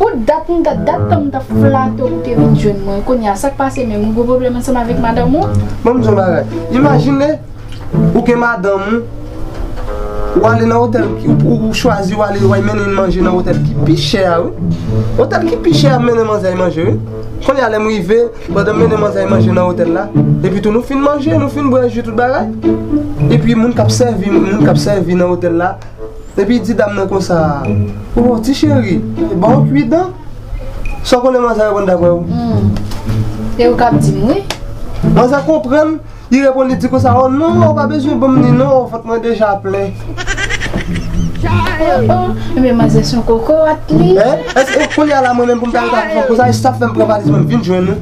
Pou dat m ta dat tan m ta flate w pou te vin jwenn mwen kounye a sak pase menm ou gen pwoblèm ansanm avèk madanm ou? Ban m di yon bagay, imajine ou gen madanm ou, ou ale nan otèl, ou chwazi ou ale wè mennen manje nan otèl ki pi chè a wi, otèl ki pi chè a mennen manzè manje wi, kounye a lè m rive pandan m mennen manzè manje nan otèl la, epi tou nou fin manje nou fin bwè ji tout bagay, epi moun k ap sèvi moun k ap sèvi nan otèl la. Epi di dam nan konsa, Oh ti cheri, ba w kwi dan? Sa w konnen manzè reponn dapre w? E ou k ap di m wi. Manzè konprann, li reponn li di konsa, Oh non, ou pa bezwen ban m li non, vant mwen deja plen. Oh oh, enben manzè s on kokorat li. Hein? Èske kounye a la mwen menm pou m ta rete ap di w konsa, e sa fè m pran valiz mwen m vin jwenn ou?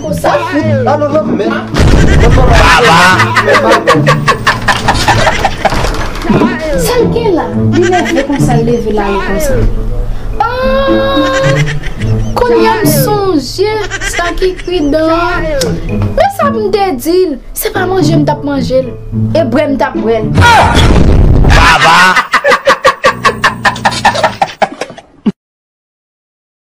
Sa fout a nan nan men Sal gen la li nève konsa l leve l ale konsa Aah Kounya m sonje sa ki kri dan an Men sa m te di l Se pa manje m t ap manje l e bwè m t ap bwè l